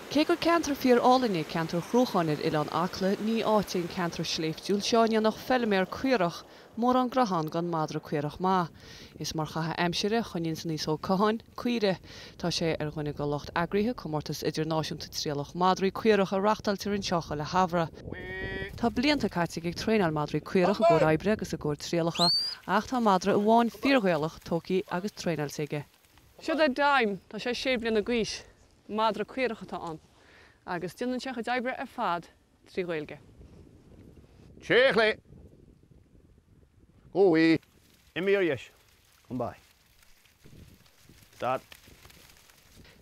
Cé gur ceantar fíor-álainn é ceantar Chruacháin ar Oileán Acla, ní áit é an ceantar sléibhtiúil seo a ndéanfadh feilméar caorach mórán graithe ann gan madra caorach maith. Is mar chaitheamh aimsire a choinníonns Naoise Ó Catháin caoirigh. Tá sé ar dhuine de lucht eagraithe comórtas idirnáisiúnta trialach madraí caorach a reachtáiltear anseo chuile shamhradh. Tá blianta caite aige ag traenáil madraí caorach i gcomhair oibre agus i gcomhair trialacha ach tá madra amháin fíor-Ghaelach tógtha agus traenáilte aige. Seo é Dime, tá sé sé bliana d'aois, madra caorach atá ann agus déanann sé a chuid oibre ar fad trí Ghaeilge. Téigh ar chlé. Go bhfui. Imigh ar dheis. Come by. Stad.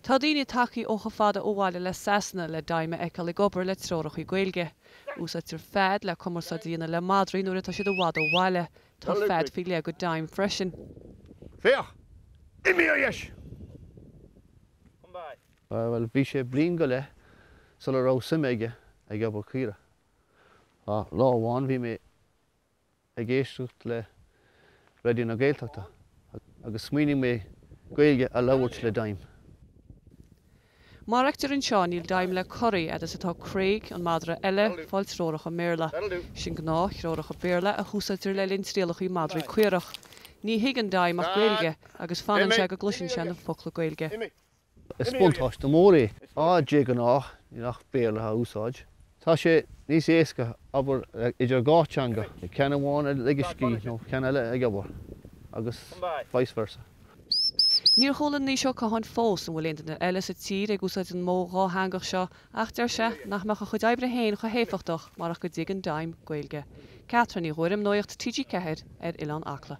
Tá daoine tagtha ó chomh fada ó bhaile le Sasana le Dime a fheiceáil ag obair le treoracha Gaeilge. Úsáidtear fead le cumarsáid a dhéanamh le madraí nuair atá siad i bhfad ó bhaile, Tá fead faoi leith do Dime freisin. Féach, imigh ar dheis. Bhuel, bhí sé bliain go leith sula raibh suim aige ag obair caoirigh. Ach lá amháin bhí mé ag éisteacht le Raidió na Gaeltachta agus smaoinigh mé Gaeilge a labhairt le Dime. Mar a fheictear anseo, níl Dime le corraí fhad is atá Craig, an madra eile, ag fáil treoracha i mBéarla. Sin gnáth-threoracha Béarla a húsáidtear le linn trialacha madraí caorach. Ní thuigeann Dime ach Gaeilge, agus fanann sé go gcloiseann sé na focla Gaeilge. Is buntáiste mór é, fhaid is de ghnáth níl ach Béarla á úsáid. Tá sé níos éasca obair idir dhá teanga, ceann amháin ag ligean scíth nó ceann eile ag obair, agus vice versa. Níor chuala Naoise Ó Catháin fós an bhfuil aon duine eile sa tír ag úsáid an modh dhátheangach seo ach deir sé nach mbeadh a chuid oibre féin chomh héifeachtach marach go dtuigeann Dime Gaeilge. Catherine Ní Ghuairim, Nuaíocht TG4 ar Oileán Acla.